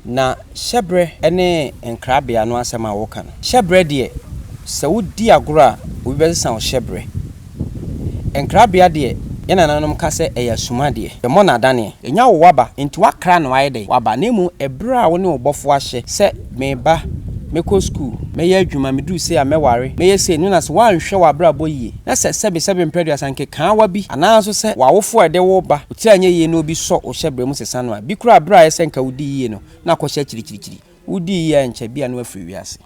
Na hyɛberɛ ne nkrabea no asɛm a woka no, hyɛberɛ deɛ, sɛ wodi agorɔ a, obi bɛsesa wo hyɛberɛ. Nkrabea deɛ, yɛn nananom ka sɛ ɛyɛ asumadeɛ, yɛmmɔ no adaneɛ. Ɛnya wo waba, enti woakra no ayɛ dɛn? Waba. Na mmom ɛberɛ a wo ne wo Bɔfoɔ ahyɛ sɛ, Meba, mɛkɔ sukuu, mɛyɛ adwuma, meduru sei a mɛware, mɛyɛ sei, no na sɛ woanhwɛ w'abrabɔ yie, na sɛ sɛbesɛbe mprɛduasa nkekaawa bi, anaa nso sɛ w'awofoɔ a ɛde wo ba, Sɛ anyɛ yiye na obi sɔ wo hyɛbrɛ mu sesa no a, bi koraa bere a ayɛ sɛ anka wudii yiye no, na akɔhyɛ akyirikyirikyiri. Wudii yiye a ɛnkyɛ ebia na wafiri wiase.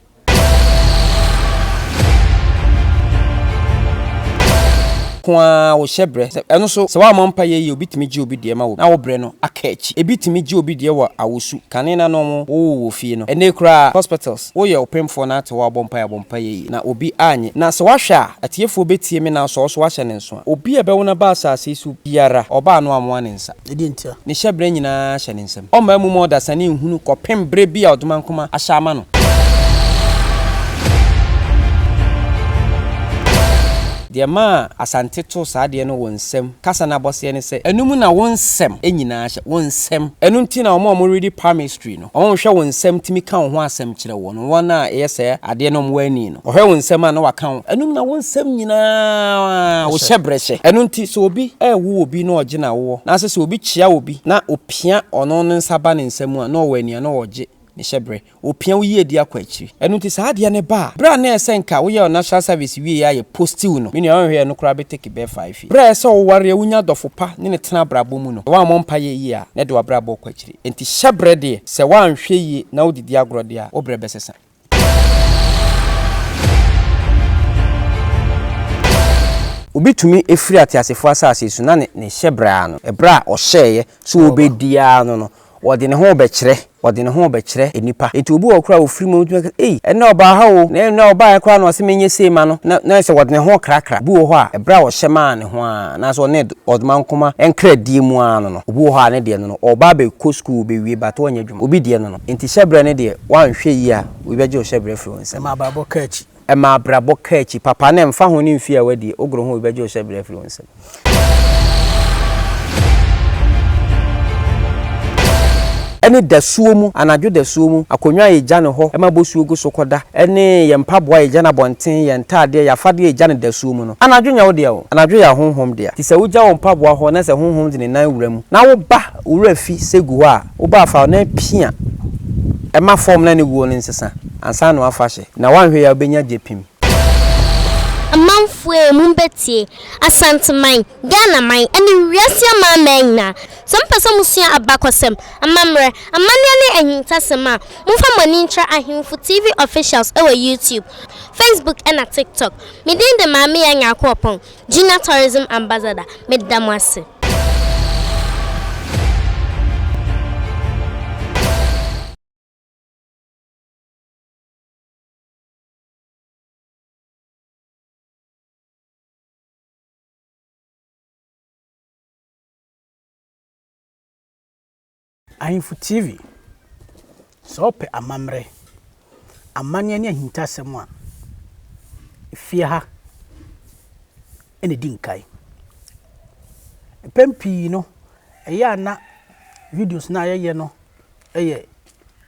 Ko ara wo hyɛbrɛ. Sɛ ɛno nso, sɛ woammɔ mpae yiye obi tumi gye obi deɛ ma wo na wo brɛ no aka akyi. Ebi tumi gye obi deɛ wɔ awosu, kane na na wɔwoo wɔ fie no. Ɛnnɛ yi koraa, hospitals. Woyɛ ɔpemfoɔ na ate woabɔ mpaeɛ abɔ mpaeɛ yie na obi annye na sɛ woahwɛ a atiefoɔ bɛtie me nanso ɔso wahyɛ ne nso a obi a ɛbɛwo no aba asase yi so biara ɔba a na wamoa ne nsa Ɛdeɛn nti a? ne hyɛberɛ nyinaa hyɛ ne nsam ɔmmaa mu ma ɔdasani nhunu kɔpem berɛ bi a ɔdomankoma ahyɛ ama no. Deɛ ɛmaa Asante too saa adeɛ no wo nsɛm kasa no abɔseɛ ne sɛ ɛno mu na wo nsɛm nyinaa hyɛ, wo nsɛm ɛno nti na wɔn a wɔredi palmistry no. Ɔnhwɛ wo nsɛm tumi ka wo ho asɛm kyerɛ wo no wɔn a ɛyɛ saa adeɛ no wɔn ani no ɔhwɛ wo nsɛm a na waka wo anum na wo nsɛm nyinaa wo hyɛ brɛhyɛ ɛno nti sɛ obi ɛɛwo obi na ɔgye na woɔ naasɛ sɛ obi kyea obi na opia ɔno no nsa ba ne nsa mu a na ɔwɔ ani a na ɔgye ne hyɛ brɛ opia wo yiedie akɔ akyiri ɛno nti saa adeɛ no ba a berɛ a na ɛsɛ nka wo yɛ national service wieɛ a yɛ posti wo no me nua ɔnhwɛ ɛno koraa bɛ take bɛɛ five years berɛ a ɛsɛ sɛ wo wareɛ wo nya adɔfo pa ne no tena abrabɔ mu no sɛ woammɔ mpaeɛ yie a na ɛde wabrabɔ kɔ akyiri. Enti hyɛbrɛ deɛ, sɛ woanhwɛ yie na wode di agorɔ deɛ a, wo brɛ bɛsesa. Obi tumi firi ateasefoɔ asase so na ne ne hyɛbrɛ ara no, ɛberɛ a ɔhyɛeɛ sɛ ɔbɛdi ara no no, ɔde ne ho rebɛkyerɛ, ɔde ne ho rebɛkyerɛ nnipa. Enti obi wɔ hɔ koraa a ɔfiri mu a, wotumi aka sɛ, Ei, ɛnnɛ ɔbaa ha o, na ɛnnɛ a ɔbaeɛ koraa na ɔse menyɛ sei mma no, na na ayɛ sɛ ɔde ne ho rekrakra. Obi wɔ hɔ a, ɛberɛ a ɔhyɛ maa ne ho ara, anaasɛ ɔne, Ɔdmankoma nkra die mu aa no no obi wɔ hɔ aa ne deɛ no no ɔɔba abɛ kɔ sukuu ɔbɛ wie but ɔnyɛ adwuma obi deɛ no no nti hyɛbrɛ no deɛ wanhwɛ yie a obi bɛ gye wo hyɛbrɛ afiri wo nsam. Ɛma abrabɔ ka akyi. Ɛma abrabɔ ka akyi papa na ɛnfa ho ne mfie a wadie ogoro ho obi bɛ gye wo hyɛbrɛ afiri wo nsam. Ɛne dasuo mu anadwo dasuo mu akonnwa a yɛgya no hɔ ma bosuo gu so kɔ da ɛne yɛn mpaboa a yɛgya no abɔnten yɛn ntaadeɛ yɛn afadeɛ a yɛgya no dasuo mu no. Anadwo nyɛ wo dea o, anadwo yɛ ahonhom dea. Te sɛ wogya wo mpaboa hɔ na sɛ honhom de ne nan wura mu na woba wo wura fi sɛ gu hɔ a, woba a fa wo nan pia ma fɔm na ne guo no nsesa ansa na woafa hyɛ na woanhwɛ yie a wobɛnya gyepim. Amanfoɔ ei mombɛtie, Asanteman, Ghanaman, ɛne wiase amanaman nyinaa, sɛ mopɛ sɛ mosua abakɔsɛm, amammerɛ, amanneɛ ne ahintasɛm a, momfa mo ani nkyerɛ Ahemfo TV Officials wɔ YouTube, Facebook ɛna TikTok. Me din de Maame-Yaa Nyarko-Opong, Junior Tourism Ambassador. Meda mo ase. Ahemfo TV, Sɛ wopɛ amammerɛ, amanneɛ ne ahintasɛm a, efie ha na edi nkan. Mpɛn pii no, ɛyɛ a na videos no a yɛyɛ no yɛ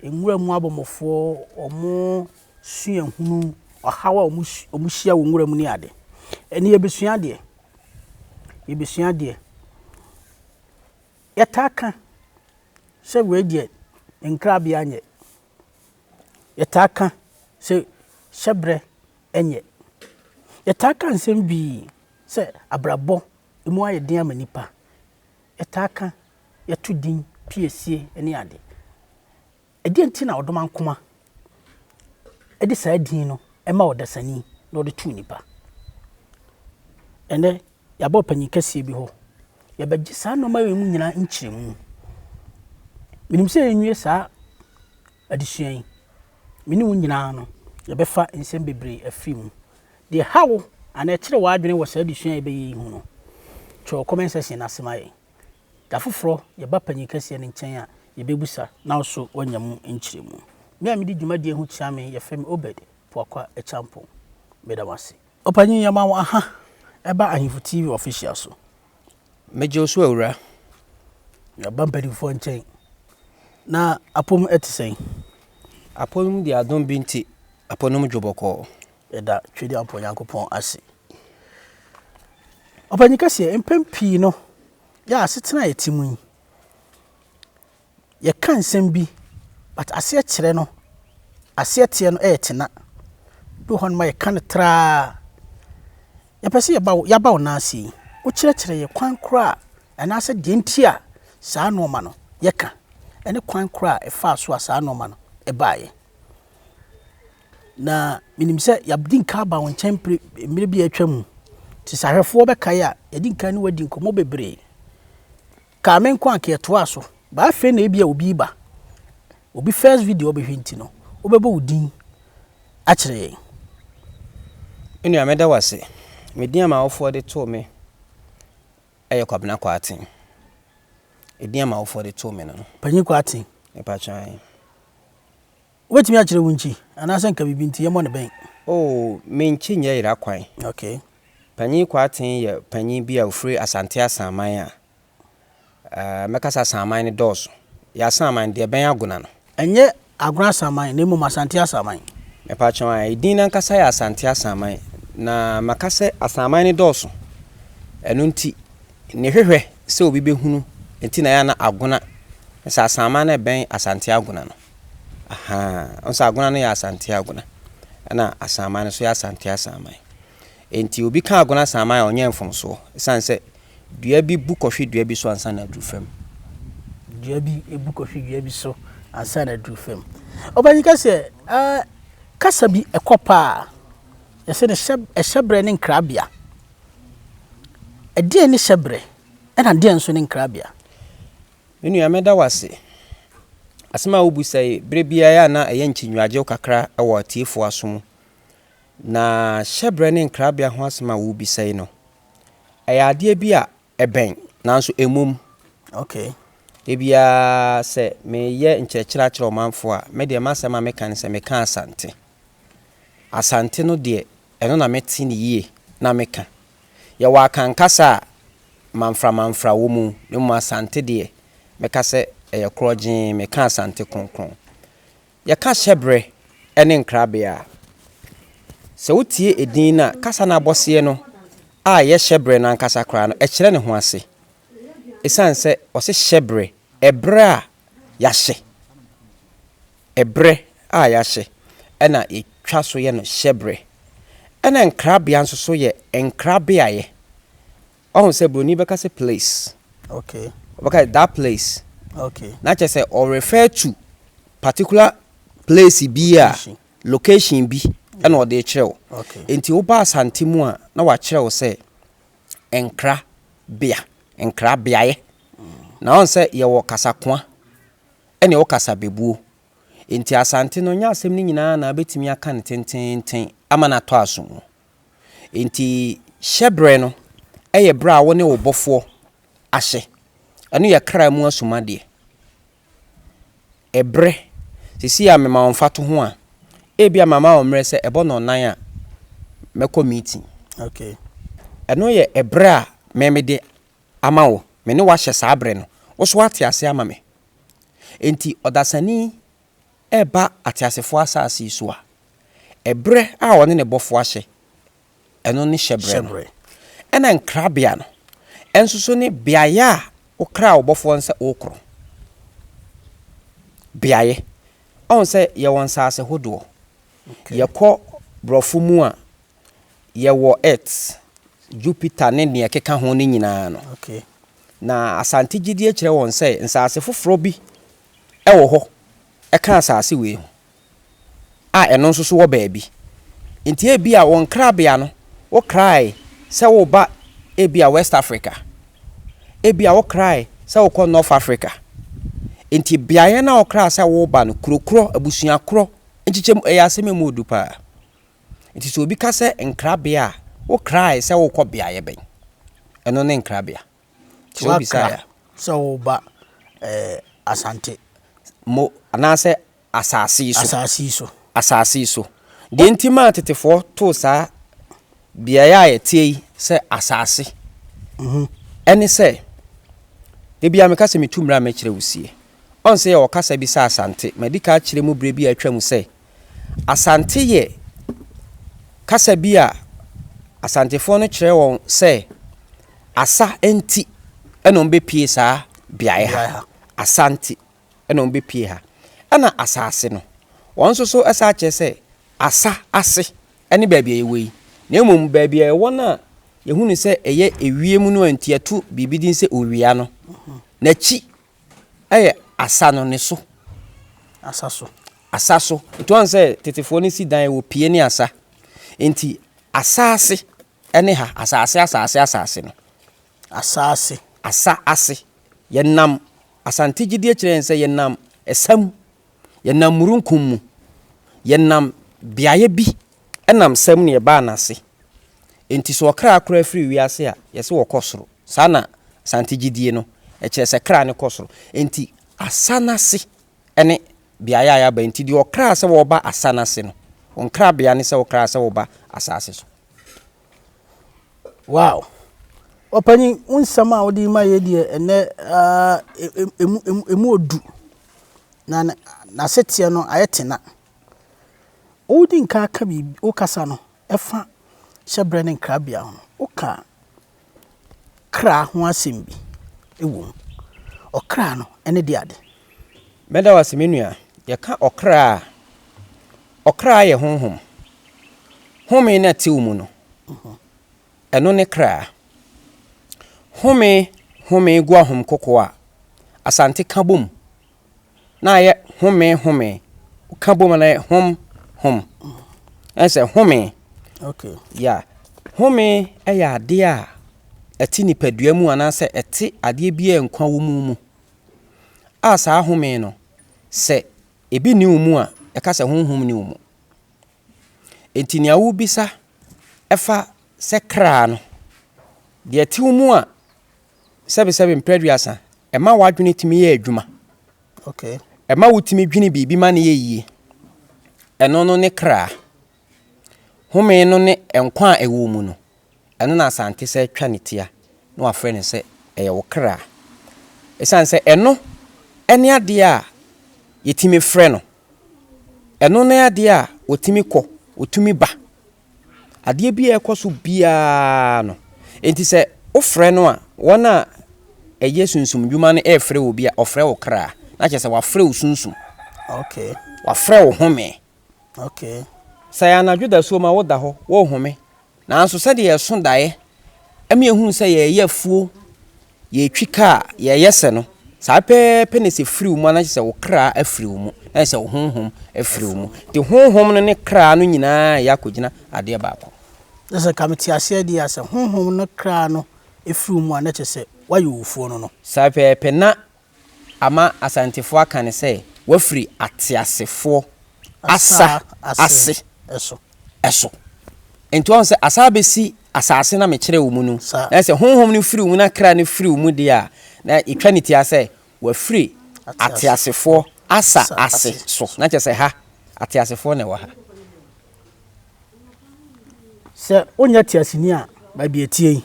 nwura mu abɔmmɔfoɔ, wɔn suahunu, ɔhaw a wɔhyia wɔ nwura mu ne ade. Ɛnne yɛbɛsua adeɛ, yɛbɛsua adeɛ. Yɛtaa ka sɛ wei deɛ nkrabea nyɛ. Yɛtaa ka sɛ hyɛbrɛ nyɛ. Yɛtaa ka nsɛm pii sɛ abrabɔ mu ayɛ den ama nnipa. Yɛtaa ka, yɛto din piesie ne ade. Ɛdeɛn nti na Ɔdomankoma de saa din no ma ɔdasani na ɔde to nnipa? Ɛnnɛ, yɛaba ɔpanyin kɛseɛ bi hɔ. Yɛbɛgye saa nneɛma wei mu nyinaa nkyerɛmu. Menim sɛ yɛnwie saa adesua yi, me ne wo nyinaa no, yɛbɛfa nsɛm bebree afiri mu. Deɛ ha wo anaa ɛkyerɛ w'adwene wɔ saa adesua a yɛbɛyɛ yi ho no, twerɛ wɔ comment section no ase ma yɛn. Da foforɔ, yɛba panin kɛseɛ no nkyɛn a, yɛbɛbisa na ɔso wanya mu nkyerɛmu. Me a medi dwumadie ho kyea me yɛfrɛ me Obed Poakwa Acheampong. Meda mo ase. Ɔpanin yɛma wo aha ɛba Ahemfo TV official so. Megye wo so awura. Yɛaba mpanimfoɔ nkyɛn. Na apɔ mu ɛte sɛn? Apɔ mu deɛ adom bi nti apɔ no mu dwo bɔkɔɔ. Yɛda Twedeampɔn Nyankopɔn ase. Ɔpanyin kɛseɛ, mpɛn pii no, yɛ asetena a yɛte mu yi, yɛka nsɛm bi, but aseɛ kyerɛ no, aseɛ teɛ no yɛ tena. Ebi wɔ hɔ nom a yɛka no tra ara. Yɛpɛ sɛ yɛba wo, yɛaba wo nan ase yi, wokyerɛkyerɛ yɛn kwan korɔ a, anaasɛ deɛ nti a saa nnoɔma no yɛka, ɛne kwan korɔ a ɛfaa so a saa nnoɔma no ɛbaeɛ. Na menim sɛ yɛadi nka aba wo nkyɛn pere mmerɛ bi a atwa mu. Te sɛ ahwɛfoɔ bɛkae a, yɛadi nka ne wadi nkɔmmɔ bebree. Kaa me nko anka yɛtoaa so. Baa afei na ebi a obi reba. Obi first video ɔbɛhwɛ nti no, wobɛbɔ wo din akyerɛ yɛn. Me nua, meda wo ase. Me din a m'awofoɔ de too me yɛ Kwabena Kwarteng. Edin a m'awofoɔ de too me no no. Panyin Kwarteng. Mepa kyɛw ae. Wobɛtumi akyerɛ wunkyi anaasɛ nka biribi nti yɛmmɔ no bɛn? Oh, menkyi nyɛ yera kwan. Okay. Panyin Kwarteng yɛ panyin bi a ofiri Asante Asanman a ɛɛ mɛkasa Asanman no dɔɔso. Yɛ Asanman no deɛ ɛbɛn Agona no. Ɛnyɛ Agona Asanman na mmom Asante Asanman. Mepakyɛw ae, edin no ankasa yɛ Asante Asanman na maka sɛ Asanman no dɔɔso ɛno nti nea ɛhwehwɛ sɛ obi bɛhunu nti na ɛyɛ a na Agona no sɛ Asanman no ɛbɛn Asante Agona no. Ahaa, wohu sɛ Agona no yɛ Asante Agona, ɛnna Asanman no nso yɛ Asante Asanman. Enti obi ka Agona Asanman a, ɔnyɛ mfomsoɔ, ɛsiane sɛ dua bi bu kɔhwe dua bi so ansa na aduru fam. Dua bi bu kɔhwe dua bi so ansa na aduru fam. Ɔpanyin ka sɛ, ah, kasa bi ɛkɔ paa a, yɛsɛ no hyɛ, ɛhyɛbrɛ ne nkrabea. Ɛdeɛn ne hyɛbrɛ, ɛnna deɛn nso ne nkrabea? Me nua, meda wo ase. Asɛm a wobisa yi, bere biara na ɛyɛ nkyinwagyew kakra wɔ atiefo aso mu. Na hyɛbrɛ ne nkrabea ho asɛm a wubisa yi no, ɛyɛ adeɛ bi a ɛbɛn, nanso ɛmmom. Okay. Ebia sɛ meyɛ nkyerɛkyerɛ akyerɛ ɔmanfo a, me deɛ m'asɛm a meka ne sɛ meka Asante. Asante no deɛ, ɛno na mete no yie na meka. Yɛwɔ Akan kasa a mamframamfra wɔ mu, na mmom Asante deɛ, mɛka sɛ ɛyɛ korɔgyee, meka Asante kronkron. Yɛka hyɛberɛ ne nkrabea a, sɛ wotie edin no a, kasa no abɔseɛ no a ɛyɛ hyɛberɛ no ankasa koraa no, ɛkyerɛ ne ho ase. Ɛsiane sɛ wɔse hyɛberɛ, ɛberɛ a yɛahyɛ. Ɛberɛ a yɛahyɛ na yɛtwa so yɛ no hyɛberɛ. Ɛna nkrabea nso so yɛ nkrabeaeɛ. Woahu sɛ buroni bɛka sɛ place. Okay. Ɔbɛka sɛ that place. Okay. Na kyerɛ sɛ ɔ refer to particular place bi a location bi ɛna ɔde kyerɛ wo. Okay. Enti woba Asante mu a na wakyerɛ wo sɛ nkrabea, nkrabeaeɛ. Na ɔn sɛ yɛwɔ kasakoa ɛne wo kasa bɛbuo. Enti Asante no, nyɛ asɛm no nyinaa na wobɛtumi aka no tenteenten ama no atɔ aso mu. Enti hyɛ berɛ no yɛ berɛ a wo ne wo Bɔfoɔ ahyɛ. Ɛno yɛ kra mu asumadeɛ. Ɛberɛ, seesei a mema wo mfatoho a, ebia mama wo mmerɛ sɛ ɛbɔ nnɔnnan a, mɛkɔ meeting. Okay. Ɛno yɛ ɛberɛ a me mede Ama wo, me ne wo ahyɛ saa berɛ no, wo nso woate aseɛ ama me. Enti ɔdasani reba ateasefoɔ asase yi so a, ɛberɛ a ɔne ne Bɔfoɔ ahyɛ, ɛno ne hyɛberɛ no. Ɛna nkrabea no nso so ne beaeɛ a wokraa wo Bɔfoɔ no sɛ worekoro. Beaeɛ. Ɔhu sɛ yɛwɔ nsaase hodoɔ. Yɛkɔ borɔfo mu a, Yɛwɔ Earth, Jupiter ne nea ɛkeka ho no nyinaa no. Na Asante gyidie kyerɛ wɔn sɛ nsase foforɔ bi wɔ hɔ ka asase wei ho a ɛno nso so wɔ baabi. Nti ebia wo nkrabea no wokrae sɛ woreba ebia West Africa, ebia wokrae sɛ wokɔ North Africa. Nti beaeɛ no a wokraa sɛ woreba no, kuro korɔ, abusua korɔ, nkyekyɛmu, ɛyɛ asɛm a ɛmu yɛ duru paa. Enti sɛ obi ka sɛ nkrabea a, wokrae sɛ worekɔ beaeɛ bɛn? Ɛno ne nkrabea. Sɛ wobisaeɛ a. sɛ woreba ɛɛ Asante. Mo anaasɛ asase yi so. Asase yi so. Asase yi so. Deɛ nti maa tetefoɔ too saa beaeɛ a yɛteɛ yi sɛ asase ɛne sɛ, da biara meka sɛ metu mmra a mɛkyerɛ wo sie. Ɔnse yɛ ɔkasa bi sɛ Asante. Madi kan akyerɛ mu berɛ bi a atwam sɛ, Asante yɛ kasa bi a Asantefoɔ no kyerɛ wɔn sɛ asa nti na wɔbɛpue saa beaeɛ ha. Asa nti na wɔbɛpue ha. Ɛna asase no, wɔn nso so san kyerɛ sɛ asa ase ne baabi a yɛwɔ yi. Na mmom baabi a ɛwɔ no a yɛhunu sɛ ɛyɛ ewiem no a nti yɛto biribi din sɛ Owia no, n'akyi Ɛyɛ asa no ne so. Asa so. Asa so. Nti wɔn sɛ tetefoɔ no si dan wɔ pie ne asa. Nti asaase ɛne ha. Asaase asaase asaase no. Asaase. Asa ase. Yɛnam Asante gyidie kyerɛ yɛn sɛ yɛnam ɛsa mu. Yɛnam murunkum mu. Yɛnam beaeɛ bi. Ɛnam sɛm ne yɛbaa n'ase. Enti sɛ ɔkra kora firi wiase a, yɛse ɔkɔ soro. Saa na Asante gyidie no kyerɛ, sɛ kra no kɔ soro. Enti asa no ase ne beaeɛ a yɛaba. Enti deɛ ɔkraa sɛ wɔba asa no ase no, wo nkrabea ne sɛ wokraa sɛ woba asaase so. Wow! Ɔpanyin, wo nsɛm a wode rema yɛn deɛ ɛnnɛ ara emu emu emu odu. Na n'aseteɛ no ayɛ tena. Wodi nka ka biribi, wo kasa no fa hyɛbrɛ ne nkrabea ho no, woka kra ho asɛm bi wom. Ɔkra no, ɛne de ade. Mɛda wo ase me nua. Yɛka ɔkra a, ɔkra yɛ honhom. Home no a ɛte wo mu no, ɛno ne kra. Home, home, guahom, koko a, Asante ka bom. na ayɛ home home ka bom na ayɛ hom hom ɛsɛ home okay ya home ɛyɛ adeɛ a ɛte nipadua mu anaasɛ ɛte adeɛ bi a nkwa wɔ mu mu a saa home no sɛ ebi ni mu a ɛka sɛ honhom ni mu enti nea wobisa ɛfa sɛ kra no deɛ ɛte mu a sɛbesɛbe mprɛ aduasa, ɛma w'adwene tumi yɛ adwuma. Okay. Ɛma wotumi dwene biribi ma no yɛ yie. Ɛno no ne kra. Home no ne nkwa a ɛwɔ mu no. Ɛno na Asante sɛ atwa ne tia na wafrɛ no sɛ ɛyɛ wo kra. Ɛsiane sɛ ɛno ne adeɛ a yɛtumi frɛ no. Ɛno ne adeɛ a ɔtumi kɔ, ɔtumi ba. adeɛ bi a ɛrekɔ so biara no. Enti sɛ wofrɛ no a, wɔn a ɛyɛ sunsum dwuma no refrɛ obi a, ɔfrɛ wo kra. Na kyerɛ sɛ wafrɛ wo sunsum. Okay. Wafrɛ wo home. Okay. Sɛ anadwo dasuo ma woda hɔ, worehome. Nanso sɛdeɛ ɛso daeɛ Ɛma yɛhunu sɛ yɛreyɛ afuo, yɛretwi kaa, yɛreyɛ sɛ no, saa pɛpɛɛpɛ na sɛ firi wo mu a, na kyerɛ sɛ wo kra afiri wo mu, na kyerɛ sɛ wo honhom afiri wo mu. Nti honhom no ne kra no nyinaa reyɛ akɔgyina adeɛ baako. Na sɛ nka mete aseɛ deɛ a, sɛ honhom no ne kra no firi wo mu a, na kyerɛ sɛ woayɛ owufoɔ no no. Saa pɛpɛɛpɛ na ama Asantefoɔ aka no sɛ wafiri ateasefoɔ asa ase so. Nti wahu sɛ asa abɛsi asaase no a mekyerɛɛ wo mu no, na sɛ honhom no firi wo mu na kra no firi wo mu deɛ a, na yɛtwa ne tia sɛ wafiri ateasefoɔ asa ase so. Na kyerɛ sɛ ha, ateasefoɔ na ɛwɔ ha. Sɛ wonyɛ teaseni a, baabi a ɛteɛ yi,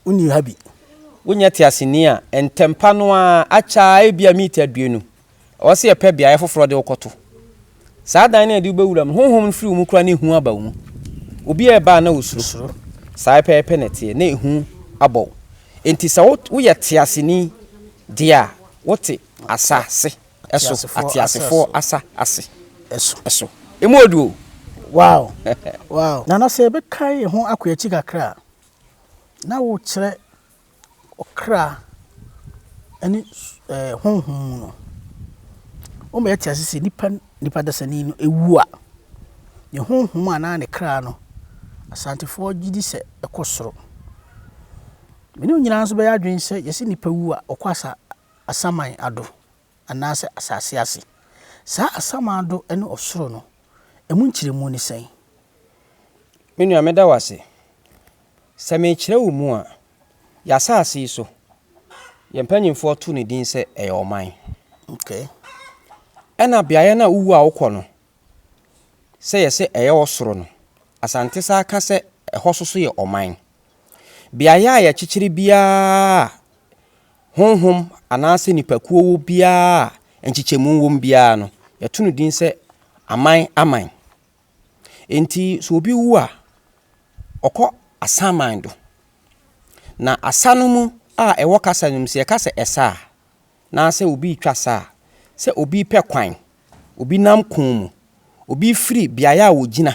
wonni ha bi. Wonyɛ teaseni a, ntɛmpa no ara, akyɛ ara, ebia miniti aduonu, ɛwɔ sɛ yɛpɛ beaeɛ foforɔ de wo kɔto. Saa dan no a yɛde wo bɛwura mu no, honhom no firi wo mu koraa na ehu aba wo mu. Obi a ɛba a na wosuro. Saa ara pɛpɛɛpɛ na ɛteɛ, na ehu abɔ wo. Enti sɛ woyɛ teaseni deɛ a, wote asase so, ateasefoɔ asa ase so. Emu yɛ duru o! Wow! Wow! Nana, sɛ yɛbɛka yɛn ho akɔ akyi kakra a, na wokyerɛ ɔkra ne ɛɛ honhom mu no, wobɛyɛ te ase sɛ nipa nipa dasani no awu a, ne honhom anaa ne kra no, Asantefoɔ gye di sɛ ɛkɔ soro. Me ne wo nyinaa nso bɛyɛ adwene sɛ yɛse nipa wu a, ɔkɔ asa asaman ado. anaasɛ asase ase? Saa asamando ne ɔsoro no, emu nkyerɛmu ne sɛn? Me nua, meda wo ase. Sɛ merekyerɛ wo mu a, yɛn asase yi so, yɛn mpanimfoɔ too ne din sɛ ɛyɛ ɔman. Okay. Ɛna beaeɛ no a wowu a wokɔ no, sɛ yɛsɛ ɛyɛ ɔsoro no, Asante saa ka sɛ ɛhɔ so so yɛ ɔman. Beaeɛ a yɛkyekyere biara a Honhom anaasɛ nnipakuo wɔ biara a nkyekyɛmu wɔ mu biara no, yɛto no din sɛ aman aman. Enti sɛ obi wu a, ɔkɔ asaman do. Na asa no mu a ɛwɔ kasa no mu, sɛ yɛka sɛ ɛsa a, anaasɛ obi retwa sa a, sɛ obi repɛ kwan, obi nam ko mu, obi refiri beaeɛ a ɔgyina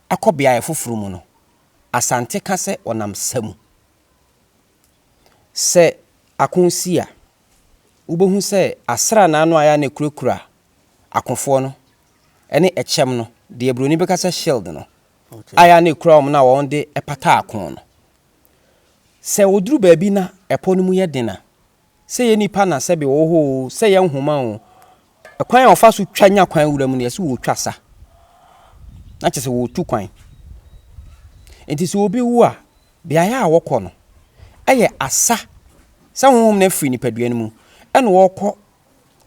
akɔ beaeɛ foforɔ mu no, Asante ka sɛ ɔnam sa mu. Sɛ ako si a, wubehu sɛ asranaa no a ɛyɛ a na ekurakura akofoɔ no ne ɛkyɛm no, deɛ Buroni bɛka sɛ shield no, a ɛyɛ a na ekura wɔn no a wɔde pata ako no, sɛ wɔduru baabi na ɛpɔ no mu yɛ den a, sɛ yɛ nnipa na sɛbe wɔ hɔ oo, sɛ yɛ nhoma oo, kwan a wɔfa so twa nya kwan wura mu no, yɛse wɔretwa sa. Na kyerɛ sɛ wɔretu kwan. Enti sɛ obi wu a, beaeɛ a wɔkɔ no yɛ asa sɛ honhom no afiri nipadua no mu ɛna wɔrekɔ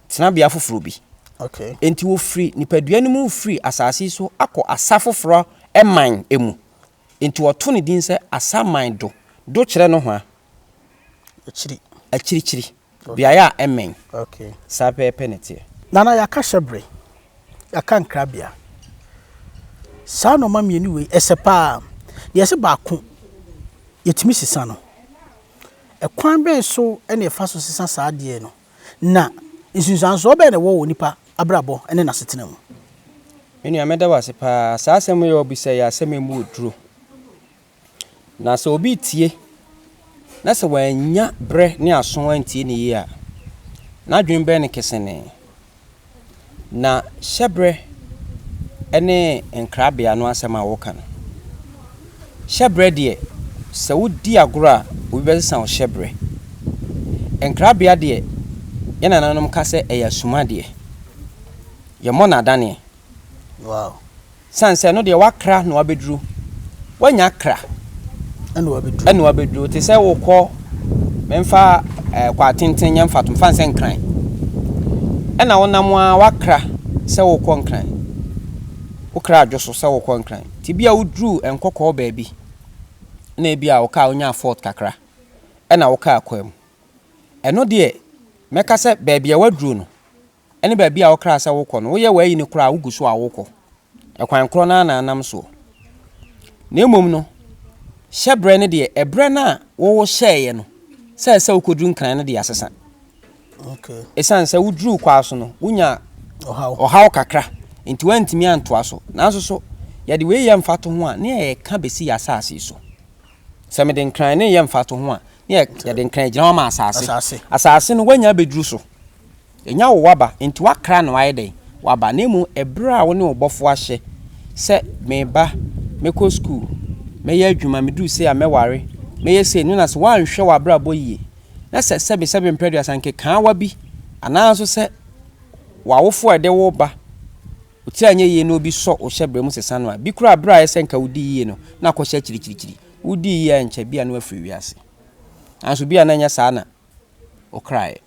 tenabea foforɔ bi. Okay. Enti wɔfiri nipadua no mu firi asase so akɔ asa foforɔ man mu. Enti wɔto ne din sɛ asaman do. Do kyerɛ nohoa. akyiri. Akyirikyiri, beaeɛ a ɛmmɛn. Okay. Saa pɛɛpɛ na ɛteɛ. Nana, yɛaka hyɛbere, yɛaka nkrabea. Saa nnoɔma mmienu wei, ɛsɛ paa. Deɛ ɛsɛ baako, yɛtumi sesa no. Ɛkwan bɛn so na yɛfa so sesa saa adeɛ no, na nsunsuansoɔ bɛn na ɛwɔ wɔ nipa abrabɔ ne n'asetena mu? Me nua, mɛda wo ase paa. Saa asɛm yi a wabisa yi, asɛm a ɛmu yɛ duro. Na sɛ obi retie na sɛ wannya berɛ ne aso antie no yie a, n'adwene bɛyɛ no kesenee. Na hyɛberɛ ne nkrabea no asɛm a wɔka no, hyɛberɛ deɛ, sɛ wodi agorɔ a, obi bɛsesa wo hyɛberɛ. Nkrabea deɛ, yɛn nananom ka sɛ ɛyɛ asumadeɛ. Yɛmmɔ no adaneɛ. Wow! Sane sɛ ɛno deɛ wakra na wabɛduru wanya kra ɛna wabɛduru te sɛ wokɔ memfa eh, kɔ atenten nyɛ mfatom fane sɛ nkran ɛna wonam a wakra sɛ wokɔ nkran wokra adwo so sɛ wokɔ nkran nti bi a woduru nkɔkɔɔ baabi na ebi a wokaa wonya fort kakra ɛna wokaa kɔa mu ɛno deɛ mɛka sɛ baabi a waduru no ne baabi a wokra sɛ wokɔ no, woyɛ w'ayi no koraa a, wugu so a wokɔ. Ɛkwan korɔ no ara na anam soɔ. Na mmom no, hyɛberɛ no deɛ, ɛberɛ no a wohyɛeɛ no sɛ ɛsɛ sɛ wokɔduru Nkran no deɛ asesa. Ɛsiane sɛ woduruu kwaa so no, wonyaa ɔhaw kakra, enti woantumi antoa so. Nanso so yɛde wei yɛ mfatoho a, na yɛreka bɛsi yɛn asase yi so. Sɛ mede Nkran no reyɛ mfatoho a, na yɛde Nkran gyina hɔ ma asase. Asase no, woanya abɛduru so. Ɛnyɛ wo w'aba, enti woakra na woayɛ dɛn? W'aba, na mmom ɛberɛ a wo ne wo bɔfoɔ ahyɛ sɛ, Meba, mɛkɔ sukuu, mɛyɛ adwuma, meduru sei a mɛware, mɛyɛ sei, no na sɛ woanhwɛ w'abrabɔ yie, na sɛ sɛbesɛbe mprɛduasa nkekaawa bi, anaa nso sɛ w'awofoɔ a ɛde wo reba otiri a ɛnyɛ yie no bi sɔ wo hyɛberɛ mu sesa no a, bi koraa berɛ a ayɛ sɛ nka wodii yie no, na akɔhyɛ akyirikyirikyiri. Wodii yie a ɛnkyɛ, bi a na wafiri wiase. Nanso bi a na ɛnyɛ saa na wokraaɛ.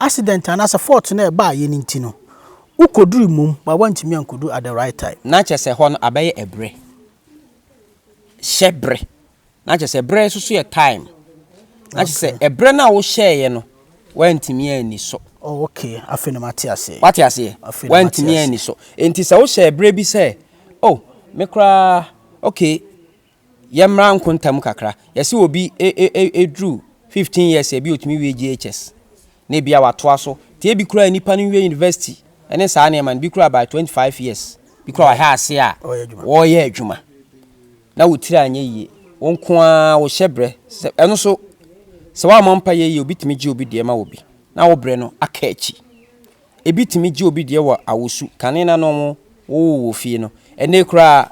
accident anaasɛ fault no a ɛbaa yɛ no nti no, wokɔdurui mmom but woantumi ankɔduru at the right time. Na kyerɛ sɛ hɔ no abɛyɛ ɛberɛ. Hyɛ berɛ. Na kyerɛ sɛ berɛ nso so yɛ time. Na kyerɛ sɛ Okay. ɛberɛ no a wohyɛeɛ no, woantumi anni so. Oh okay, afei na mate aseɛ. Woate aseɛ? Afei na mate Woantumi aseɛ. anni so. Enti sɛ wohyɛɛ berɛ bi sɛ, oh, me koraa, okay, Yɛmmra nkonta mu kakra. Yɛse obi duru fifteen years a, ebia otumi wie JHS, na ebia watoa so. Nti ebi koraa a nnipa no nwie university ne saa nneɛma no, bi koraa by twenty five years, bi koraa wɔahyɛ ase a wɔreyɛ adwuma, na wo tiri anyɛ yie. Wo nko ara wo hyɛbrɛ. Sɛ, ɛno nso, sɛ woammɔ mpaeɛ yie, obi tumi gye obi deɛ ma obi, na wo brɛ no aka akyi. Ebi tumi gye obi deɛ wɔ awosu, kane no ano a wɔwoo wɔ fie no. Ɛnnɛ yi koraa,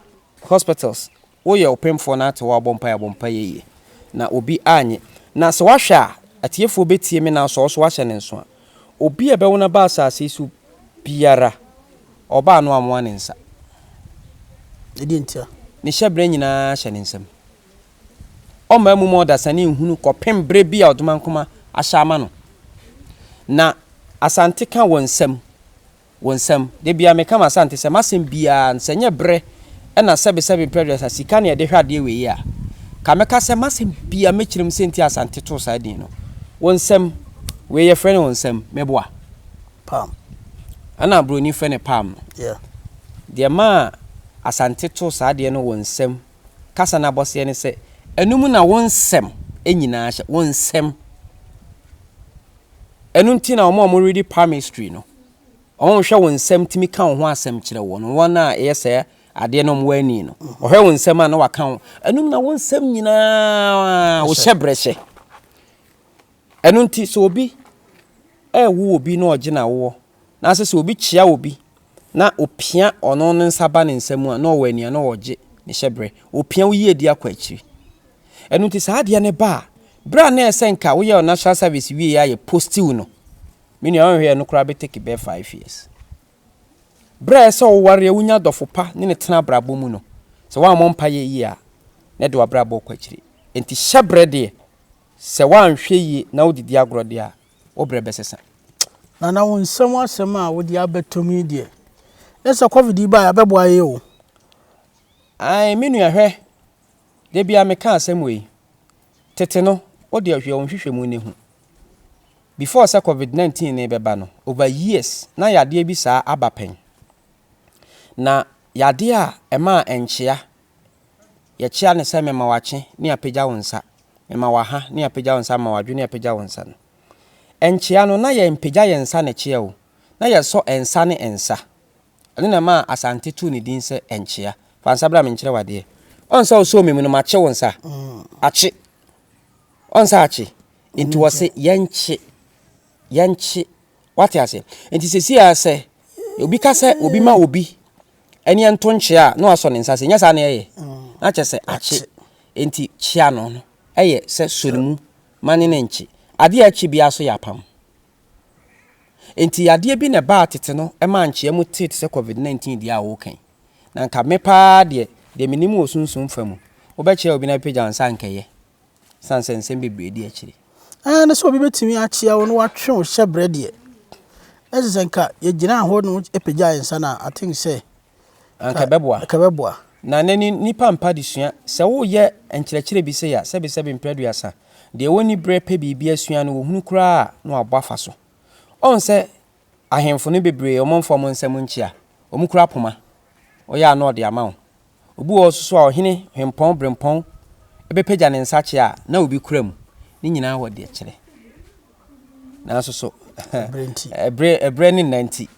Hospitals wo yɛ ɔpemfoɔ na ate w'abɔ mpaeɛ abɔ mpaeɛ yie na obi annye na sɛ wahwɛ a atiefoɔ bɛtie me na sɛ ɔso wahyɛ ne nso a obi a ɛbɛwo no aba asase yi so biara ɔbaa no amoa ne nsa Ɛdeɛ ntia? ne hyɛberɛ nyinaa hyɛ ne nsam ɔmma amu ma ɔdasani nhunu kɔpem berɛ bi a ɔdomankoma ahyɛ ama no na Asante ka wɔ nsam. Wo nsam. Da biara meka m'Asante sɛ m'asɛm biara no sɛ nyɛ bere na sɛbe sɛbe mprɛduasa sika na yɛde hwɛ adeɛ wɔ yi a nka mɛka sɛ m'asɛm biara mɛkyerɛ mu sɛnti a Asante too saa din no. Wo nsam. Wei yɛfrɛ no wo nsam. Meboa. Palm. Ɛna broni frɛ no palm no. Yeah. Deɛ maa Asante too saa adeɛ no wo nsam kasa no abɔseɛ ne sɛ ɛno mu na wo nsɛm nyinaa hyɛ. Wo nsam. Ɛno nti na wɔn a wɔredi palm history no Ɔhwɛ wo nsɛm tumi ka wo ho asɛm kyerɛ wo no wɔn a ɛyɛ sɛ adeɛ no wɔn ani no. Ɔhwɛ wo nsɛm a na waka wo. Ɛnum na wo nsɛm nyinaa wohyɛ brɛ hyɛ. Ɛno nti sɛ obi ɛwo obi na ɔgye na woɔ na sɛ sɛ obi kyea obi na opia ɔno ne nsa ba ne nsɛm a na ɔwɔ ani a na ɔgye ne hyɛ brɛ. Opia wo yie di akɔ akyiri. Ɛno nti saa adeɛ no ba a berɛ a na ɛsɛ nka woyɛ natural service wie a yɛ postiw no. Me nua ɔnhwɛ yɛ no koraa bɛ take bɛyɛ five years. Berɛ a ɛsɛ sɛ wowareɛ wonya adɔfo pa ne no tena abrabɔ mu no, sɛ woammɔ mpaeɛ yie a, na ɛde w'abrabɔ rekɔ akyiri. Enti hyɛ berɛ deɛ, sɛ woanhwɛ yie na wodidi agorɔ deɛ a, wo berɛ bɛsesa. Nana wo nsa mu asɛm a wode abɛto mu yi deɛ, na sɛ covid yi baeɛ a, ɛbɛboa yɛn o. Ae, me nua hwɛ, Da biara meka asɛm wei. Tete no, wo deɛ hwɛ wo nhwehwɛmu no hu. Before sɛ covid 19 no bɛba no, over years na yadeɛ bi saa aba pɛn. Na yadeɛ a ɛma a ɛnkyea, yɛkyea no sɛ mema wakye ne apagya wo nsa, mema waha ne apagya wo nsa, mema wadwo ne apagya wo nsa no. Ɛnkyea no na yɛmpagya yɛn nsa na ɛkyeɛ o, na yɛsɔ nsa ne nsa. Ɛno na ɛmaa Asante too ne din sɛ Nkyea. Fa nsa bra me nkyerɛ wo adeɛ. Ɔn sɛ wosoo me mu no, makye wo nsa. Akye. Ɔn sɛ akye. Nti wɔse yɛnkye. Yɛnkye. Wate aseɛ? Nti sɛsi ara sɛ obi ka sɛ obi ma obi ɛne ɛnto nkyea a, na wasɔ ne nsa sɛ nyɛ saa na ɛyɛ. Na kyerɛ sɛ akye. Nti kyea no no ɛyɛ sɛ sɔ ne mu ma ne ne nkye. Adeɛ a ɛkye biara so yɛ apam. Enti yadeɛ bi na ɛbaa tete no ɛmaa nkyea mu tee te sɛ covid 19 deɛ a woka yi. Na nka me paa deɛ, deɛ menim wɔ sunsum fa mu, wobɛkyerɛ obi na bɛpagya nsa a nka ɛyɛ. Ɛsiane sɛ nsɛm bebree di akyire. Aa na sɛ obi bɛtumi akyea wo na watwe wo hyɛbrɛ deɛ, na kyerɛ sɛ nka yɛgyinaa hɔ na wopagyae nsa no a, I think sɛ Anka ɛbɛboa. Anka ɛbɛboa. Na nnɛ ni nnipa mpa adesua. Sɛ woyɛ nkyerɛkyerɛ bi sei a, sɛbesɛbe mpre aduasa, deɛ wɔnni berɛ pɛ biribi asua no, wɔhunu koraa a, na wɔabɔ afa so. Ɔhu sɛ ahemfo no bebree wɔmfa wɔn nsam nkyia. Wɔkura poma. Ɔyɛ a na ɔde ama wo. Obi wɔ hɔ nso so a, ɔhene, hempɔn, berempɔn bɛpagya ne nsa kyɛ a, na obi kura mu. Ne nyinaa wɔ deɛ kyerɛ. Nanso so, ɛberɛ ne nna nti,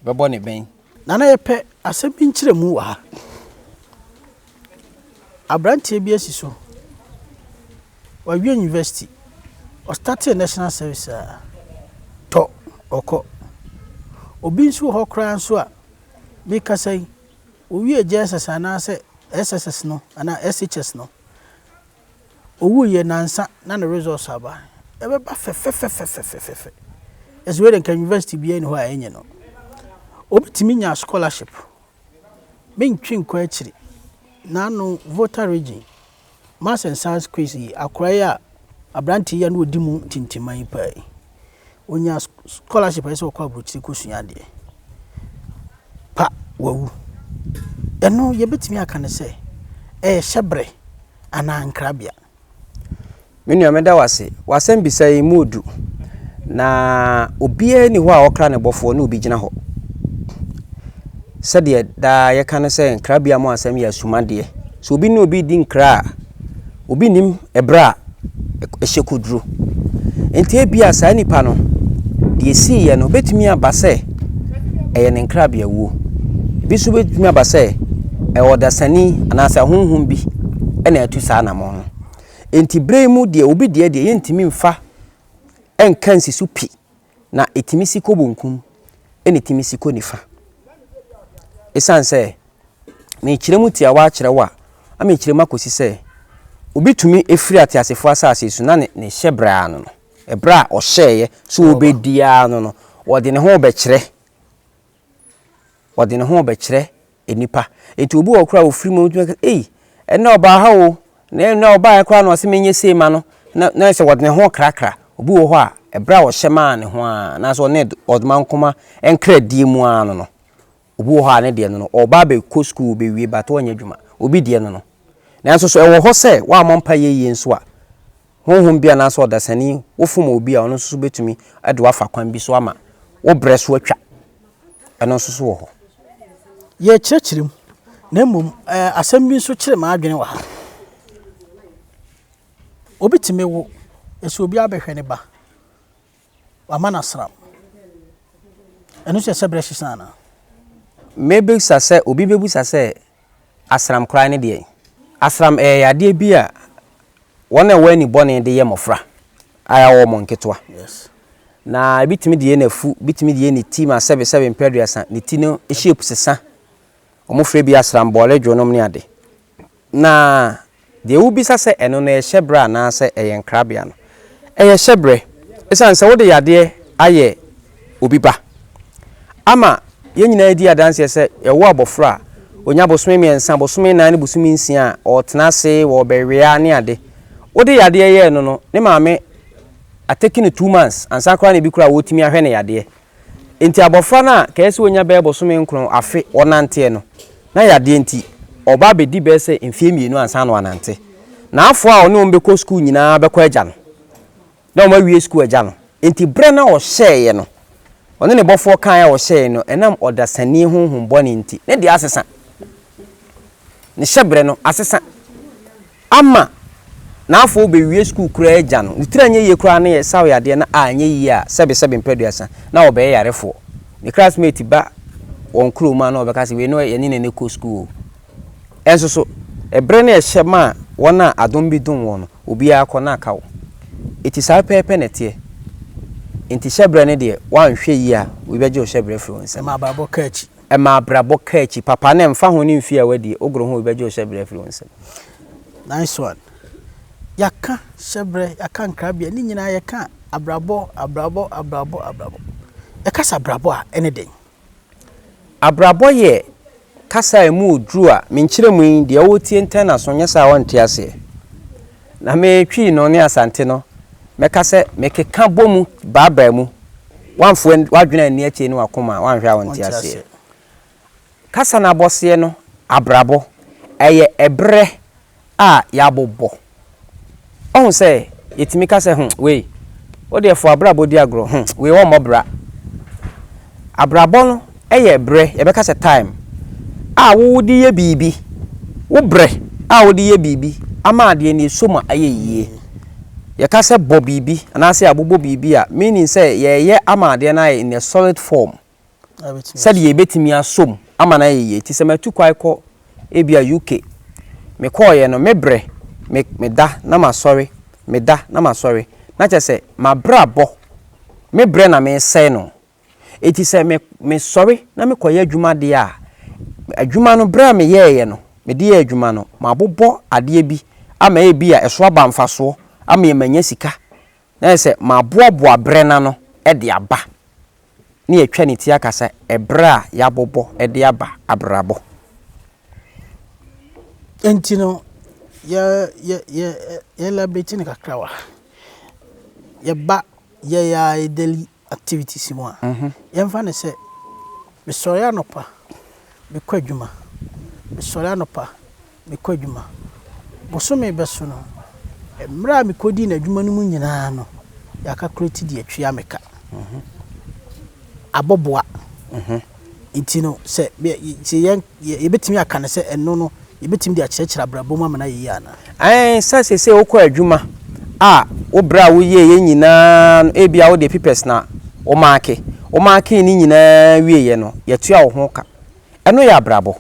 bɛbɔ ne bɛn. Nana yɛpɛ asɛm bi nkyerɛmu wɔ ha. Abranteɛ bi asi so, wawie university, ɔstartee national service a, tɔ ɔkɔ. Obi nso wɔ hɔ koraa nso a, mekasa yi, owie JSS anaasɛ SSS no anaa SHS no, Owuiɛ nansa na ne results aba. Ɛbɛba fɛfɛfɛfɛfɛfɛfɛ. Ɛsɛ wei de nka university biara nni hɔ a ɛnyɛ no. Obi tumi nya scholarship. Mentwe nkɔ akyiri. N'ano Volta region, maths and science quiz yi, akora yi a aberante yi a na ɔdi mu tintiman paa yi. Ɔnya scholarship a ɛsɛ sɛ ɔkɔ aburokyire kɔ sua adeɛ. Pa wawu. Ɛno yɛbɛtumi aka no sɛ ɛyɛ hyɛbrɛ anaa nkrabea. Me nua meda wase. W'asɛm bisa yi mu odu. Na obiara ni hɔ a ɔkra ne bɔfoɔ ne obi gyina hɔ. Sɛdeɛ daa yɛka no sɛ nkrabea mu asɛm yɛ asumadeɛ. Sɛ obi ne obi di nkra a. Obi nnim ɛberɛ a ɛhyɛ kɔduro. Enti ebia saa nipa no, deɛ ɛsiiɛ no, ɛbɛtumi aba sɛ ɛyɛ ne nkrabeawuo. Ebi nso bɛtumi aba sɛ ɛyɛ ɔdasani anaasɛ ahonhom bi na atu saa anamɔn no. Enti berɛ yi mu deɛ, obi deɛ deɛ yɛntumi mfa nka nsi so pi. na ɛtumi si kɔ bonkum ɛna ɛtumi si kɔ nifa. Ɛsiane sɛ mekyerɛ mu tiawa akyerɛ wo a, ama mekyerɛ mu akɔsi sɛ obi tumi ɛfiri ateasefoɔ asase so na ne hyɛ berɛ ano no, ɛberɛ a ɔhyɛeɛ sɛ ɔbɛdi ano no, ɔde ne ho rebɛkyerɛ. ɔde ne ho rebɛkyerɛ nnipa. Enti obi wɔ hɔ koraa a ɔfiri mu tumi ka sɛ, Ei, ɛnnɛ ɔbaa ha o, na ɛyɛ nnɛ a ɔbaeɛ koraa na ɔse menyɛ sei mma no, na na ayɛ sɛ ɔde ne ho rekrakra. Obi wɔ hɔ a, ɛberɛ a ɔhyɛ maa ne ho ara anaasɛ ɔne ɔdomankoma nkradie mu ara no no, obi wɔ hɔ a ne deɛ no no, ɔreba abɛkɔ sukuu, ɔbɛwie but ɔrenyɛ adwuma. Obi deɛ no no. Nanso so ɛwɔ hɔ sɛ woammɔ mpaeɛ yie nso a, honhom bi anaasɛ ɔdasani wofom obi a, ɔno nso so bɛtumi de wafa kwan bi so ama wo berɛ so atwa. Ɛno nso so wɔ hɔ. Yɛrekyerɛkyerɛ mu, na mmom eh, asɛm bi nso kyere m'adwene wɔ ha. Obi tumi wo, ɛsɛ obi abɛhwɛ ne ba. Wama no asram. Ɛno nso yɛ sɛ berɛ sesa anaa? Mebisa sɛ obi bɛbisa sɛ asram koraa ne deɛn? Asram ɛyɛ yadeɛ bi a wɔn a ɛwɔ ani bɔne de yɛ mmɔfra a yɛawo wɔn nketewa. Yes. Na ɛbɛtumi de yɛ n'afu, ɛbɛtumi de yɛ ne ti ma sɛbe sɛbe mpɛ aduasa, ne ti no shape sesa. Wɔfrɛ bi asram bɔɔle dwonom ne ade. Na deɛ wobisa sɛ ɛno no yɛ hyɛberɛ anaasɛ ɛyɛ nkrabea no, ɛyɛ hyɛberɛ. Ɛsiane sɛ wode yadeɛ ayɛ obi ba ama yɛn nyinaa adi adanseɛ sɛ yɛwo abɔfra a ɔnya bosome mmiɛnsa, bosome nnan ne bosome nsia a ɔretena ase, ɔrebɛwea ne ade. Wode yadeɛ yɛɛ no no, ne maame ateki no two months ansa koraa na ebi koraa wɔtumi ahwɛ no yadeɛ. Enti abɔfra no a kɛyɛ sɛ wanya bɛyɛ bosome nkron afe ɔnanteɛ no, na yadeɛ nti ɔba abɛdi bɛyɛ sɛ mfeɛ mmienu ansa na wanante. N'afoa a ɔne wɔn bɛkɔ sukuu nyinaa bɛkɔ agya no, na wɔn awie sukuu agya no. Enti berɛ na ɔhyɛeɛ no, ɔne ne bɔfoɔ kaeɛ a ɔhyɛeɛ no, ɛnam ɔdasani honhom bɔne nti, ne deɛ asesa. ne hyɛbrɛ no asesa ama na afɔɔ ɔbɛwie sukuu koraa agya no, ne tiri anyɛ yie koraa na yɛsaw yadeɛ na anyɛ yie a sɛbe sɛbe mprɛduasa na wɔbɛyɛ yarefoɔ. Me classmate ba wɔn kurom a na wɔbɛka sɛ wei no yɛne no na ɛkɔ sukuu o. Ɛnso so, ɛberɛ no ɛhyɛ ma a wɔn a adom bi dom wɔn no, obiara kɔ na aka wo. Enti saa pɛɛpɛ na ɛteɛ. Enti hyɛbrɛ no deɛ woanhwɛ yie a obi bɛgye wo hyɛbrɛ afiri wo nsam. Ma abrabɔ ka akyi. Ɛma abrabɔ ka akyi papa na ɛmfa ho ne mfeɛ a w'adi, wogoro ho wobɛgye wo hyɛbrɛ afiri wo nsam. Nice one. Yɛaka hyɛbrɛ, yɛaka nkrabea, ne nyinaa yɛka abrabɔ, abrabɔ, abrabɔ, abrabɔ. Yɛka sɛ abrabɔ a, ɛne dɛn? Abrabɔ yɛ kasa a ɛmu ɔduru a menkyerɛ mu yi, deɛ ɔretie ntɛn n'aso, nyɛ saa a ɔnte aseɛ. Na me Twi no ne Asante no, mɛka sɛ mekeka bɔ mu baabaa mu. W'amfoa w'adwene anni akyire ne w'akoma a w'anhwɛ a wonte aseɛ. Kasa no abɔseɛ no, abrabɔ, ɛyɛ ɛberɛ a yɛabobɔ. Wahu sɛ yɛtumi ka sɛ, hmm, wei, wodeɛ fa w'abrabɔ di agorɔ, hmm, wei ɔmmɔ bra. Abrabɔ no yɛ berɛ, yɛbɛka sɛ time, a wode yɛ biribi, wo berɛ a wode yɛ biribi ama adeɛ no ɛsɔ mu ayɛ yie. Yɛka sɛ bɔ biribi anaasɛ abobɔ biribi a, meaning sɛ yɛreyɛ ama adeɛ no ayɛ in a solid form sɛdeɛ ɛbɛtumi asɔ mu ama no ayɛ yie. Nti sɛ matu kwan kɔ ebia UK, mekɔeɛ no, me berɛ, me, meda na masɔre, meda na masɔre, na kyerɛ sɛ, m'abrabɔ, me berɛ na meresɛe no, Enti sɛ me, mesɔre na mekɔyɛ adwuma deɛ a, adwuma no, berɛ a meyɛeɛ no, mede yɛɛ adwuma no, mabobɔ adeɛ bi ama ebia ɛso aba mfasoɔ, ama manya sika, na ayɛ sɛ maboaboa berɛ no ano de aba. Na yɛatwa ne ti aka sɛ, ɛberɛ a yɛabobɔ de aba abrabɔ. Enti no, yɛ, yɛ, yɛ, yɛ elaborate no kakrawa. Yɛba, yɛyɛ a, yɛdeli, activities mu a, yɛmfa no sɛ mesɔre anɔpa mekɔ adwuma, mesɔre anɔpa mekɔ adwuma, bosome bɛso no, mmerɛ a mekɔdii no adwuma no mu nyinaa no, yɛ calculate deɛ atua meka. Abɔboa. Enti no, sɛ yebetumi aka no sɛ ɛno no, yebetumi de akyerɛkyerɛ abrabɔ mu ama no ayɛ yiye anaa? Aane, sɛ seesei wokɔ adwuma a, wo bere a woyɛeɛ nyinaa no, ebia wode pipɛs na womaake, womaakee ne nyinaa wieeɛ no, yɛatua wo ho ka. Ɛno yɛ abrabɔ.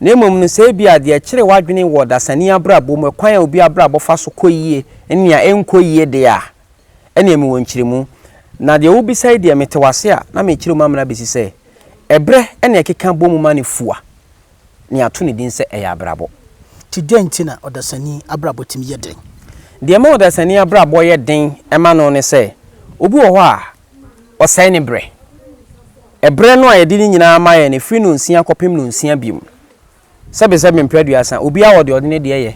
Na mmom no, sɛ ebia deɛ ɛkyere w'adwene wɔ dasani abrabɔ mu, ɛkwan a obi abrabɔ fa so kɔ yie ne nea ɛnkɔ yie deɛ a, Ɛnneɛ mewɔ nkyerɛmu. Na deɛ wobisa yi deɛ, mete wo ase a, na merekyerɛ mu amena bɛsi sɛ, ɛberɛ na ɛkeka bɔ mu ma no fu a, na yɛato ne din sɛ ɛyɛ abrabɔ. Nti dɛn nti na ɔdasani abrabɔ tumi yɛ den? Deɛ ɛma ɔdasani abrabɔ yɛ den ma no ne sɛ, obi wɔ hɔ a, ɔsɛe ne berɛ. Ɛberɛ no a yɛde ne nyinaa ma yɛ no, ɛfiri nnɔnsia kɔpem nnɔnsia bio. sɛbesɛbe mpere aduasa, obiara wɔ deɛ ɔde ne deɛ yɛ.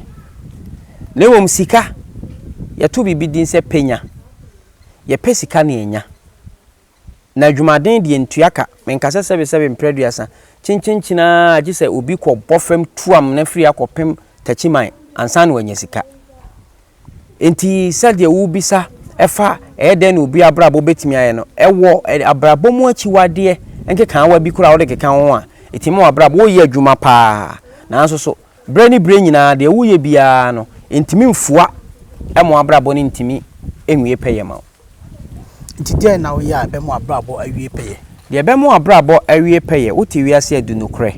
Na mmom sika, yɛto biribi din sɛ pɛ nya. Yɛpɛ sika na yɛnya. Na adwumaden deɛ ntua ka, menka sɛ sɛbesɛbe mpere aduasa, kyenkyenkyen ara a gye sɛ obi kɔbɔ fam tuam na afiri akɔpem takyiman ansa na wanya sika. Enti, sɛdeɛ wobisa fa ɛyɛ dɛn na obi abrabɔ bɛtumi ayɛ no, wɔ abrabɔ mu akyiwadeɛ nkekaawa bi koraa a wode keka ho a, ɛtumi ma w'abrabɔ, woreyɛ adwuma pa ara, nanso nso berɛ ne berɛ nyinaa deɛ woreyɛ biara no, ɛntumi mfua ma w'abrabɔ no ntumi nwie pɛyɛ ma wo. Ntsi dɛn na ɔyɛ a ebɛma w'abrabɔ awie pɛyɛ? Deɛ ɛbɛma w'abrabɔ awie pɛyɛ, Wote wiase adu nokorɛ?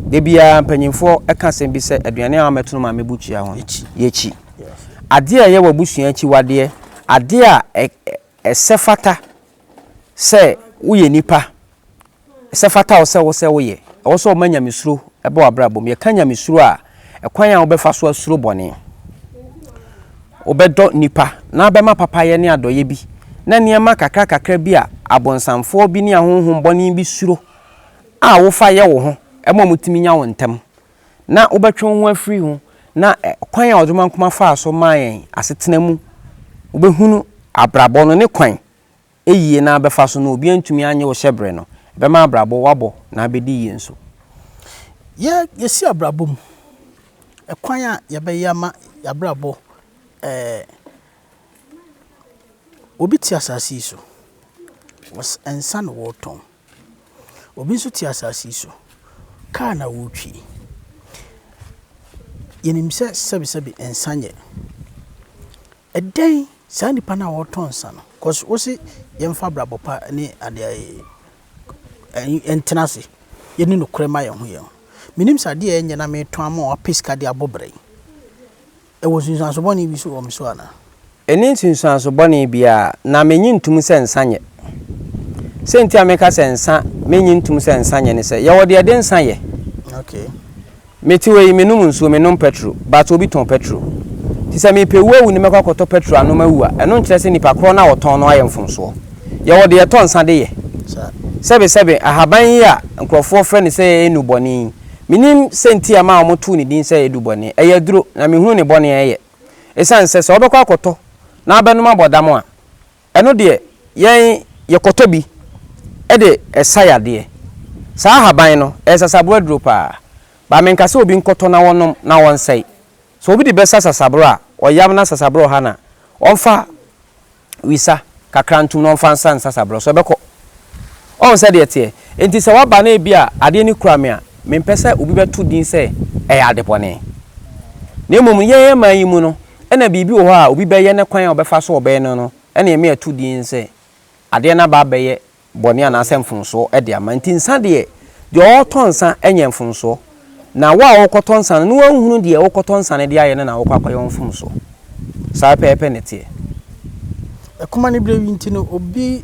Da biara mpanimfoɔ ka asɛm bi sɛ, Aduane a wɔamɛto no maame bukyia ho no, yɛ kyi. Adeɛ a ɛyɛ w'abusua akyiwadeɛ, adeɛ a ɛsɛ fata sɛ woyɛ nipa Sɛ fata wo sɛ wo sɛ woyɛ. Ɛwɔ sɛ ɔma nyamesuro ba w'abrabɔ mu. Yɛka nyamesuro a, ɛkwan a wobɛfa so asuro bɔne, wobɛdɔ nnipa, na wobɛma papayɛ ne adɔeɛ bi, na nneɛma kakrakakra bi a abonsamfoɔ bi ne ahonhom bɔne bi suro a wofa yɛ wo ho ma wɔtumi nya wo ntɛm, na wobɛtwe wo ho afiri ho, na kwan a Ɔdomankoma faa so maa yɛn asetena mu wobɛhunu abrabɔ no ne kwan yie na bɛfa so no, obi antumi annye wo hyɛbrɛ no, ɛbɛma abrabɔ woabɔ na abɛdi yie nso. Yɛ yɛsi abrabɔ mu ɛkwan a yɛbɛyɛ ama yɛabrabɔ ɛɛ obi te asase yi so wɔs nsa na wɔretɔn, obi nso te asase yi so kaa na wɔretwi. Yɛnim sɛ sɛbesɛbe nsa nyɛ. Ɛdɛn saa nipa no a ɔretɔ nsa no cause wose yɛmfa abrabɔ pa ne ade ɛyi ntena ase yɛni nokorɛ ma yɛn ho yɛn ho menim sɛ adeɛ a ɛnyɛ na meretɔn ama wapɛ sika de abɔ bra yi ɛwɔ nsunsuanso bɔne bi so wɔ me so anaa? Ɛnni nsunsuanso bɔne biara na mennye ntom sɛ nsa nyɛ. Sɛ nti a meka sɛ nsa mennye ntom sɛ nsa nyɛ ne sɛ yɛwɔ deɛ yɛde nsa yɛ. Okay. Me te hɔ yi me nom nsuo me nom pɛtro but obi tɔn pɛtro nti sɛ mepɛ wu awu ne mɛkɔ akɔtɔ pɛtro anom awu a ɛno nkyerɛ sɛ nipa korɔ no a ɔtɔn no ayɛ mfomsoɔ yɛwɔ deɛ yɛtɔ nsa de yɛ sɛbe sɛbe ahaban yi a nkorɔfoɔ frɛ no sɛ ɛnu bɔne yi menim sɛ nti a ma wɔn too ne din sɛ ɛdu bɔne ɛyɛ aduro na mehunu ne bɔne a ɛyɛ ɛsiane sɛ sɛ wobɛkɔ akɔtɔ na abɛnom abɔ dam a Ɛno deɛ, yɛn yɛkɔtɔ bi de sa yadeɛ. Saa ahaban no, ɛyɛ sasaboro aduro paa. But menka sɛ obi nkɔtɔ na ɔnom na ɔnsɛe. Sɛ obi de bɛsa sasaboro a, ɔyam na sasaboro ɔha no a, ɔmfa wisa kakra ntom na ɔmfa nsa ne sasaboro so, ɛbɛkɔ. Woahu sɛdeɛ ɛteɛ? Enti sɛ woaba na ebia adeɛ no kura me a, mempɛ sɛ obi bɛto din sɛ ɛyɛ adebɔne. Na mmom, yɛn man yi mu no, Ɛna biribi wɔ hɔ a obi bɛyɛ ne kwan a ɔbɛfa so ɔbɛyɛ no no na yɛme ato din sɛ adeɛ no aba abɛyɛ bɔne anaasɛ mfomsoɔ de ama. Nti nsa deɛ, deɛ ɔretɔ nsa nyɛ mfomsoɔ, na wo a worekɔtɔ nsa no, na woanhunu deɛ worekɔtɔ nsa no de ayɛ no na worekɔ akɔyɛ wo mfomsoɔ. Saa pɛpɛɛpɛ na ɛteɛ. Ɛkɔm aniberɛ yi nti no, obi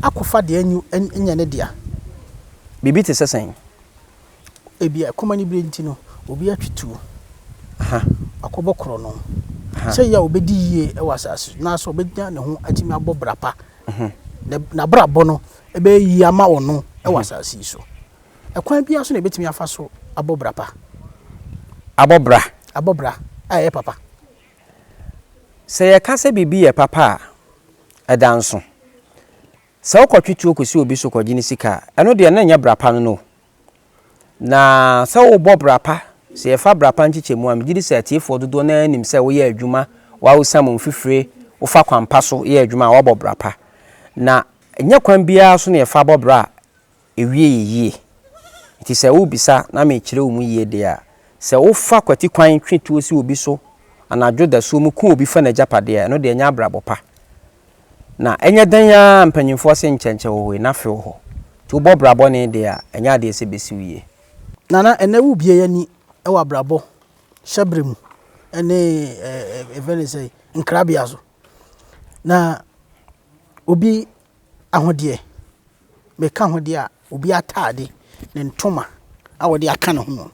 akɔfa deɛ anwu nyɛ ne dea. Biribi te sɛ sɛn? Ebia ɛkɔm anibere nti no, obi atwe tuo, wakɔbɔ korɔno. Sɛ yɛ a ɔbɛdi yie wɔ asase so, anaasɛ ɔbɛnya ne ho atumi abɔ bra pa. N'abrabɔ no bɛyɛ yie ama ɔno wɔ asase yi so. Ɛkwan biara so na ɛbɛtumi afa so abɔ bra pa. Abɔ bra? Abɔ bra a ɛyɛ papa. Sɛ yɛka sɛ biribi yɛ papa a, ɛda nso. Sɛ wokɔtwe tuo kɔsi obi so kɔgye ne sika a, ɛno deɛ na ɛnyɛ bra pa no no o. Na sɛ wobɔ bra pa, sɛ yɛfa bra pa nkyekyɛmu a, megye di sɛ atiefoɔ dodoɔ no ara nim sɛ woyɛ adwuma, woawsam wo mfifire, wofa kwan pa so yɛ adwuma a, woabɔ bra pa. Na ɛnyɛ kwan biara so na yɛfa bɔ bra a ɛwie yɛ yie. Nti sɛ worebisa na mekyerɛ wo mu yie deɛ a, sɛ wofa kwati kwan twe tuo si obi so anadwo dasuo mu ku obi fa n'agyapadeɛ a, ɛno deɛ ɛnyɛ abrabɔ pa. Na ɛnyɛ dɛn ara a mpanyimfoɔ se nkyɛnkyɛ wɔ hɔ yi, na fe wɔ hɔ. Nti wobɔ bra bɔne deɛ a, ɛnyɛ adeɛ sɛ ɛbɛsi wo yie. Nana, ɛnnɛ wobue ani wɔ abrabɔ hyɛberɛ mu ne yɛfrɛ no sɛ nkrabea so. Na obi ahodeɛ, meka ahodeɛ a, obi ataade, ne ntoma a ɔde aka ne ho no.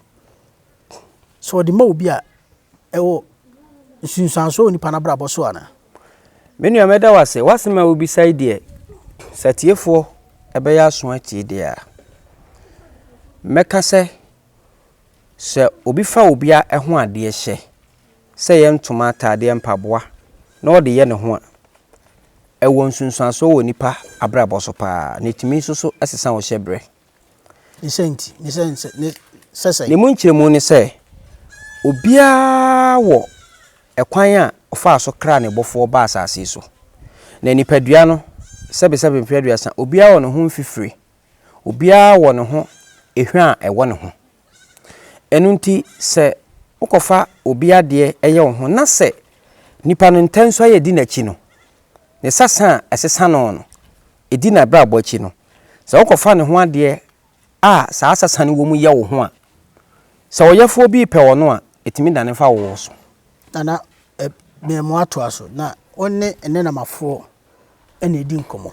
Sɛ ɔde ma obi a, ɛwɔ nsunsuansoɔ wɔ nipa no abrabɔ so anaa? Me nua mɛda wo ase. W'asɛm a wobisa yi deɛ, sɛ atiefoɔ ɛbɛyɛ aso atie deɛ a, mɛka sɛ, sɛ obi fa obi a ɛho adeɛ hyɛ, sɛ ɛyɛ ntoma, ataadeɛ, mpaboa, na ɔde yɛ ne ho a, ɛwɔ nsunsuansoɔ wɔ nipa abrabɔ so paa, na ɛtumi nso so sesa wo hyɛbrɛ. Ne mu nkyerɛmu ne sɛ, obiara wɔ kwan a ɔfaa so kraa ne Bɔfoɔ baa asase yi so. Na nipadua no, sɛbesɛbe mfe aduasa, obiara wɔ ne ho mfifire, obiara wɔ ne ho hwa a ɛwɔ ne ho. Ɛno nti, sɛ wokɔfa obi adeɛ yɛ wo ho, na sɛ nipa no ntɛnso a yɛdi n'akyi no, Ne sasa a ɛsesa no no, ɛdi n'abrabɔ akyi no, sɛ wokɔfa ne ho adeɛ a saa sasa no wɔ mu yɛ wo ho a, sɛ ɔyɛfoɔ bi repɛ ɔno a, ɛtumi dane fa wo so. Nana Mmeamu atoa so, Na wo ne nnɛnamafoɔ na ɛdi nkɔmmɔ.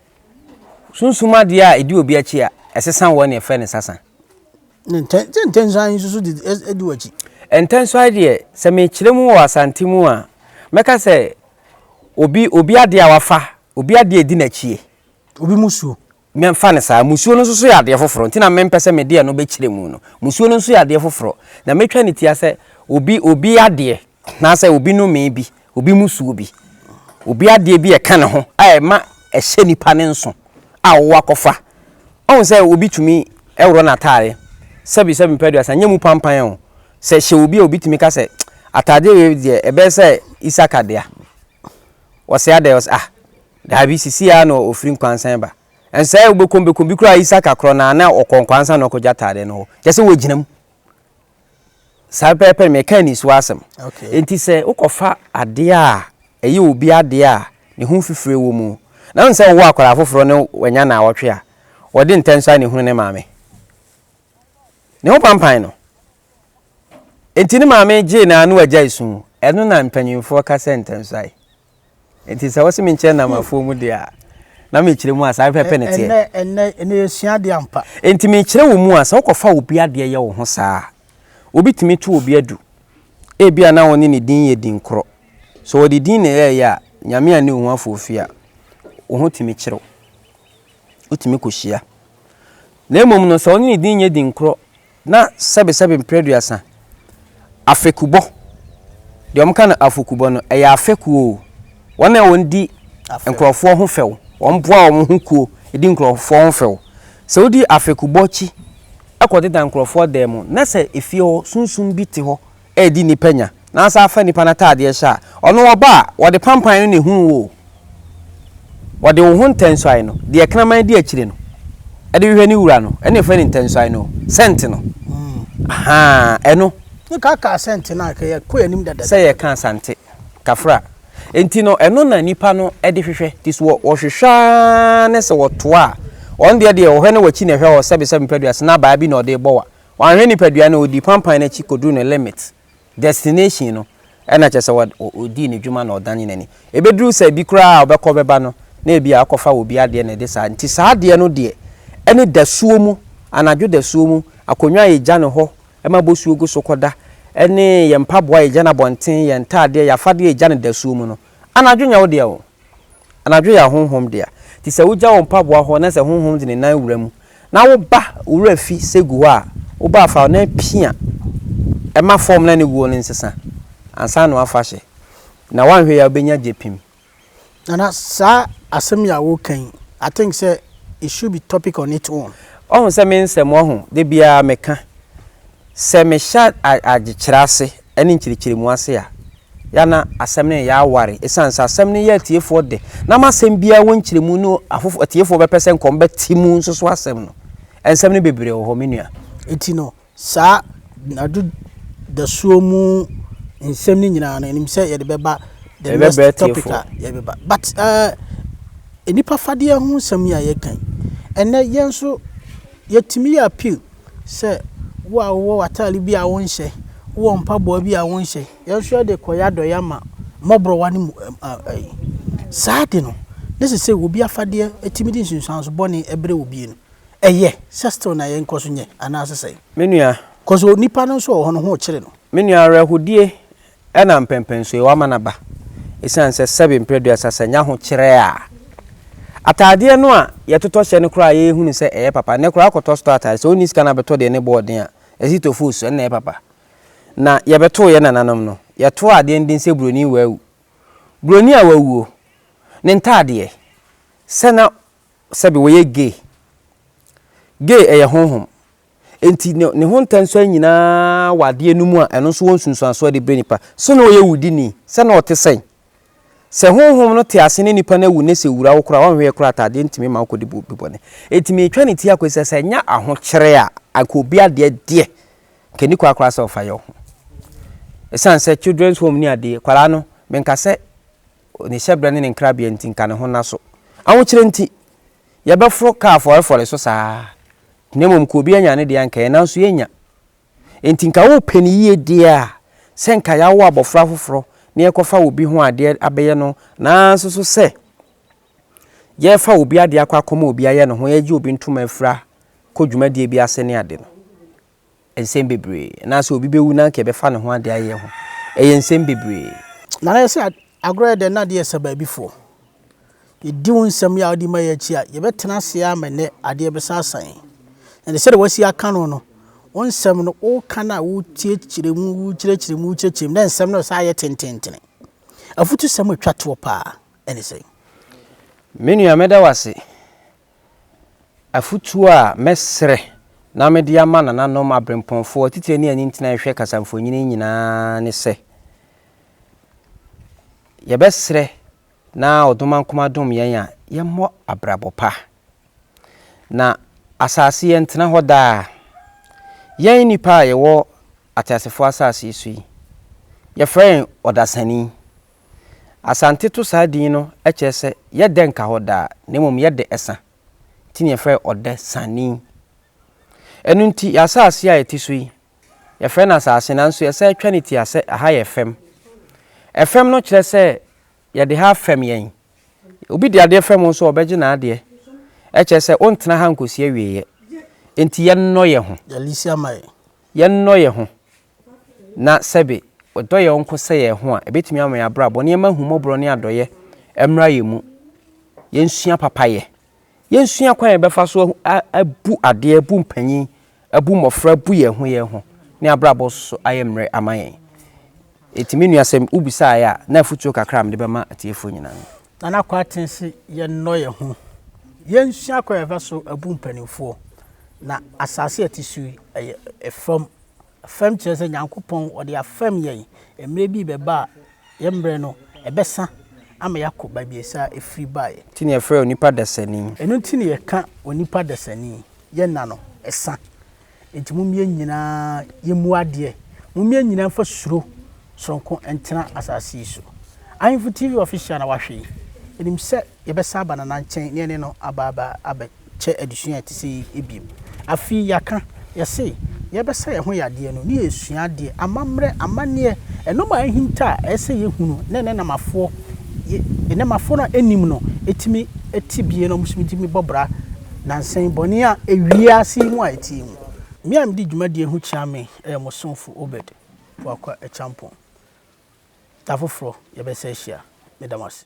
Sunsum adeɛ a ɛdi obi akyi a, ɛsesa wɔn na yɛfrɛ no sasa. Sɛ ntɛnsuae nso so di w'akyi? Ntɛnsuae deɛ, sɛ mekyerɛ mu wɔ Asante mu a, mɛka sɛ obi obi adeɛ a wafa, obi adeɛ a ɛdi n'akyie. Obi musuo. Mɛmfa no saa. Musuo no nso so yɛ adeɛ foforɔ nti na mempɛ sɛ mede ɛno bɛkyerɛ mu no. Musuo no nso yɛ adeɛ foforɔ. Na mɛtwa ne tia sɛ obi obi adeɛ. anaasɛ obi nomee bi, obi musuo bi, obi adeɛ bi a ɛka ne ho a ɛma ɛhyɛ nipa ne nso a ɔwɔ akɔfa. Ɔhu sɛ obi tumi worɔ n'ataare, sɛbi sɛbi mpɛ aduasa, nyɛ mu pampan o, sɛ ɛhyɛ obi a obi tumi ka sɛ ataadeɛ wei deɛ ɛbɛyɛ sɛ Isaka dea. Ɔse adɛn? Ɔse ah daabi sisi ara na ɔfiri nkwansan ba. Ɛnso sɛ wobɛkɔm bɛkɔm bi koraa Isaka korɔ no ara na ɔkɔ nkwansan na ɔkɔgya ataadeɛ no hɔ. Kyerɛ sɛ wɔgyina mu. Saa pɛpɛɛpɛ no meka anisoɔ asɛm. Nti sɛ wokɔfa adeɛ a ɛyɛ obi adeɛ a ne ho fifire wɔ mu na wohu sɛ wowɔ akwadaa foforɔ ne wanya nnawɔtwe a, wɔde ntɛnso ara na ɛhunu ne maame. Ne ho pampan no. Nti ne maame gyee no ara na wagyae su. Ɛno na mpanimfoɔ ka sɛ ntɛnsoae. Nti sɛ wose menkyerɛ nam afuo mu deɛ a, na mekyerɛ mu a saa pɛpɛ ne teɛ. Ɛnɛ ɛnɛ ɛnɛ yɛsua adeɛ ampa. Nti mekyerɛ wo mu a sɛ wokɔfa obi adeɛ yɛ wo ho saa a, obi tumi to obi adu. Ebia na wo ne ne din yɛ din korɔ. Sɛ wɔde din na ɛyɛɛyɛ a, Nyame anni wo ho afoofi a, wo ho tumi kyere wo. Wotumi kɔhyia. Na mmom no, sɛ wo ne ne din nyɛ din korɔ Na sɛbesɛbe mprɛduasa, afekubɔ, deɛ wɔka no afokubɔ no, ɛyɛ afɛkuo o, wɔn a wɔn di nkurɔfoɔ ho fɛw, wɔn boa wɔn ho kuo di nkurɔfoɔ ho fɛw, sɛ wodi afɛkubɔ akyi kɔ deda nkurɔfoɔ dan mu, na sɛ efie hɔ sunsum bi te hɔ redi nnipa nya, na asan afa nnipa no ataadeɛ hyɛ a, ɔno ɔba a, wɔde pampan no na ehunu wo o, wɔde wo ho ntɛnsuae no, deɛ kraman di akyire no, de hwehwɛ ne wura no, ɛna efrɛ no ntɛnsuae no o, sɛnte no, ahaa, ɛno. Ne ka kaa sɛnte no a, ka yɛ kɔ yɛn anim dada. Sɛ yɛ ka asante, kafra. Enti no, ɛno na nnipa no de hwehwɛ, nti so wɔ, wɔhwehwɛ ara ne sɛ wɔtoa a, wɔn deɛ deɛ, wɔhwɛ na wɔakyi na ɛhwɛ hɔ, sɛbesɛbe mpadua, sena abaa bi na ɔde rebɔ wa, Wanhwɛ nipadua no, ɔdii pampan no akyi kɔduruu ne limit, destination, no, ɛna kyerɛ sɛ ɔdii n'adwuma na ɔdane n'ani. Ɛbɛduru sɛ bi koraa a ɔbɛkɔ bɛba no, na ebia ɔkɔfa wɔ obi adeɛ na ɛde saa, nti saa adeɛ no deɛ ɛne dasuo mu, anadwo dasuo mu, akonnwa a yɛgya no hɔ ma bosuo gu so kɔda, ɛne yɛn mpaboa a yɛgya no abɔnten, yɛn ntaadeɛ, yɛn afadeɛ a yɛgya no dasuo mu no, anadwo nyɛ wo dea oo. Anadwo yɛ ahonhom dea. Nti sɛ wogya wo mpaboa hɔ na sɛ honhom de ne nan wura mu na woba wo wura fi sɛ gu hɔ a, woba a fa wo nan pia ma fam na ne wuo no nsesa ansa na woafa hyɛ. Na woanhwɛ yie a wobɛnya gyepim. Nana saa asɛm yi a woka yi I think sɛ it should be topic on it own. Woahu sɛ me nsɛm woahu da biara meka. Sɛ mehyɛ adzekyerɛ ase ne nkyerɛkyerɛmu ase a, yɛ a na asɛm no nnyɛ aware esiane sɛ asɛm no yɛ atsiefoɔ dɛ na ama asɛm biara wɔ nkyerɛmu no afof atsiefoɔ bɛpɛ sɛ nka wɔbɛtse mu nso so asɛm no. Nsɛm no bebree wɔ hɔ, me nua. Enti no, saa nadwo dasuo mu nsɛm no nyinaa no, nim sɛ yɛde bɛba the Yɛde next bɛbrɛ topic a atsiefoɔ. yɛde bɛba. But eh, nnipa fadeɛ ho nsɛm yi a yɛka yi, ɛnnɛ yɛn nso yɛtumi yɛ appeal. sɛ wo a wowɔ w'atade bi a wonhyɛ, wowɔ mpaboa bi a wonhyɛ, yɛn nso yɛde rekɔyɛ adɔeɛ ama mmɔborɔwa no mu ɛyi. Saa ade no, na ɛsɛ sɛ obi afadeɛ tumi de nsunsuanso bɔne brɛ obi no. Ɛyɛ sɛ still na yɛnkɔ so nyɛ anaasɛ sɛn? Me nua. Cause onipa no nso wɔ hɔ no, ho kyere no. Me nua, awerɛhodie Ɛna mpɛnpɛnsoɔ yi wama no aba ɛsiane sɛ sɛbe mprɛ aduasa sɛ nya ho kyerɛ a ataadeɛ no a yɛtotɔ hyɛ no koraa yɛ hunu sɛ ɛyɛ papa nnɛ koraa kɔtɔ store ataade sɛ ɔnni sika na bɛtɔ deɛ ne boɔ ɔden a ɛsi to foosu ɛnna ɛyɛ papa na yɛbɛtoo yɛ nananom no yɛtoo adeɛ no din sɛ buroni wawu buroni a wawuo ne ntaadeɛ sɛ na sɛbe wɔyɛ gay gay ɛyɛ honhom Enti ne, ne ho ntɛnsoɛ nyinaa wɔ adeɛ no mu a ɛno nso wɔ nsunsuansoɔ de brɛ nipa. So na ɔyɛ wudini? Sɛ na ɔte sɛn? Sɛ honhom no te ase ne nipa no awu nnɛ sɛ wura wo koraa a, ɔnhweɛ koraa ataadeɛ ntumi mma wokɔdi bu, bu bɔne. Enti meretwa ne ti akɔ yi sɛ, sɛ ɛnyɛ ahokyerɛ a, anka obi adeɛ deɛ, anka ɛnni kwan koraa sɛ ɔfa yɛ wo ho. Ɛsiane sɛ children's home ne adeɛ, kwadaa no, menka sɛ ne hyɛberɛ ne ne nkrabea nti, anka ne ho nna so. Ahokyerɛ nti. Yɛbɛforo ka afɔrefɔre so saa, na mmom ka obi anya ne deɛ anka yɛn nanso yɛnnya. Enti nka wopɛ no yie deɛ a, sɛ nka yɛawo abɔfra foforɔ na yɛkɔfa obi ho adeɛ abɛyɛ no nanso nso sɛ yɛrefa obi adeɛ akɔ akɔma obi ayɛ ne ho, yɛregye obi ntoma afira kɔ dwumadie bi ase ne ade no, nsɛm bebree, anaasɛ obi bɛwu na anka yɛbɛfa ne ho ade ayɛ ho. Ɛyɛ nsɛm bebree. Na na ɛyɛ sɛ agorɔ yɛ dɛ, na adeɛ resa baabifoɔ. Yɛdi wo nsɛm yi a wode ma yi akyi a, yɛbɛtena ase ara ma nnɛ adeɛ bɛsan asan yɛn. Na ɛde sɛdeɛ woasi aka no no, wo nsɛm no, woka no a, wotiekyerɛ mu, wokyerɛkyerɛ mu, wokyerɛkyerɛ mu, na nsɛm no resan ayɛ tententene. Afutusɛm a ɛtwa toɔ paa ne sɛn? Me nua, mɛda wo ase. Afotuo a mɛsrɛ na mede ama nananom aberempɔnfoɔ, atitire ne anintini a ɛhwɛ kasamfonin nyinaa ne sɛ, yɛbɛsrɛ na Ɔdomankoma dom yɛn a yɛmmɔ abrabɔ pa. Na asase yɛntena hɔ daa. Yɛn nnipa a yɛwɔ ateasefoɔ asase yi so yi, yɛfrɛ yɛn ɔdasani. Asante to saa din no kyerɛ sɛ yɛ dɛ nka hɔ daa, na mmom yɛ dɛ sa, nti na yɛfrɛ hɔ Ɔdɛ Sani. Ɛno nti yɛ asase a yɛte so yi, yɛfrɛ no asase nanso yɛsan twa no tia sɛ ɛha yɛ fam. Ɛfam no kyerɛ sɛ yɛde ha afam yɛn. Obi de adeɛ fam wo nso a ɔbɛgye n'adeɛ. Ɛkyerɛ sɛ wontena ha nkɔsi awieeɛ. Enti yɛnnɔ yɛn ho. Yɛnnɔ yɛn ho. na sɛbe yɛdɔ yɛn nko sɛ yɛn ho a, ɛbɛtumi ama yɛn abrabɔ na yɛmma ahummɔborɔ ne adɔeɛ mmra yɛn mu. Yɛnsua papayɛ. Yɛnsua kwan a yɛbɛfa so abu adeɛ, abu mpanyin, abu mmɔfra, abu yɛn ho yɛn ho, ne abrabɔ so ayɛ mmerɛ ama yɛn. Enti me nua sɛ wobisaeɛ a, na afotuo kakra a mede bɛma atiefoɔ nyinaa no. Nana Kwarteng se yɛnnɔ yɛn ho, yɛnsua kwan a yɛbɛfa so abu mpanimfoɔ, na asase a yɛte so yi yɛ fam Fam kyerɛ sɛ Nyankopɔn ɔde afɛm yɛn. Mmerɛ bi rebɛba a yɛn mmerɛ no ɛbɛsa ama yɛakɔ baabiasa a ɛfiri baeɛ. Nti na yɛfrɛ onipa dasani. Ɛno nti na yɛka onipa dasani. Yɛn nna no ɛsa. Enti mom yɛn nyinaa yɛmmu adeɛ. Mom yɛn nyinaa mfa suro sononko ntena asase yi so. Ahemfo TV Official na wahwɛ yi. Ɛnim sɛ. Yɛbɛsan aba Nana nkyɛn ne yɛne no aba aba abɛkyɛ adesua a ɛte sɛ yei bio. Afei yɛaka, yɛse, yɛbɛsa yɛn ho yadeɛ no ne yɛresua adeɛ, amammerɛ, amanneɛ, nnoɔma a ahinta a ɛyɛ sɛ yɛhunu na ɛnnɛ nnɛmafoɔ, nnɛmafoɔ no a ɛnnim no tumi te bie na wɔtumi tumi bɔ bra nansa yi bɔne a ewiase yi mu a ɛteɛ mu. Me a medi dwumadie ho kyia me yɛ mo somfo Obed Boakwa Acheampong. Da foforɔ yɛbɛsan ahyia. Meda mo ase.